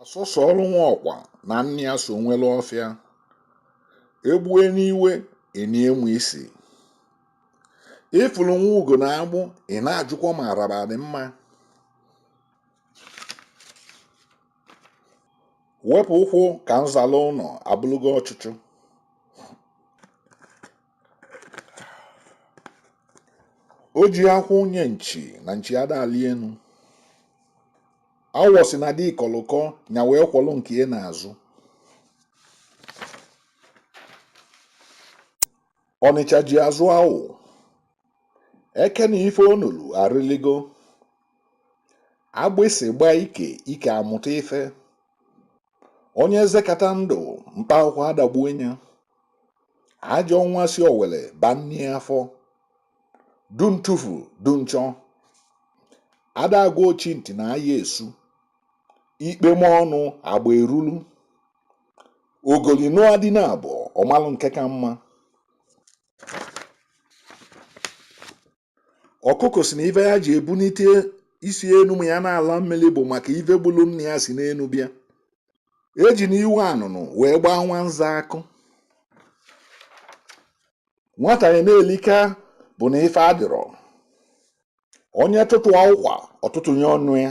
asụsụ ọrụ nwa ọkwa na nne ya so nwere ọfịa egbue n'iwe enie ma isi ịfụrụ nwa ugo n'agbụ ị na-ajụkwa ma ala adị mma wepụ ụkwụ ka m zala ụnọ abụlụgo ọchụchụ o ji akwụ nye nchi na nchi ada alị enu awọ sị na di kọlụ ụkọ nya wee kwọlụ nke ya n'azụ ọnịcha ji azụ awụ eke na ife o nolu arịligo agbịsị gbaa ike ike amụta ife onye zekata ndụ mkpa akwụkwọ adagbue nya ajọ nwa si owere baa nne ya afọ du ntufu du nchọ ada agwa ochi ntị na aya esu ikpe ma ọnụ agba erulu ogoli nụọ di naabọ ọ malụ nke ka mma ọkụkọ sị na ife ya ji ebunite isi enu ma ya na-ala mmiri bụ maka ife gbulu nna ya si n'enu bịa ejina iwe anụnụ wee gbaa nwa nza akụ nwata ya na-elika bụ na ife adịrọ onye tụtụa ụkwa ọ tụtụnye ọnụ ya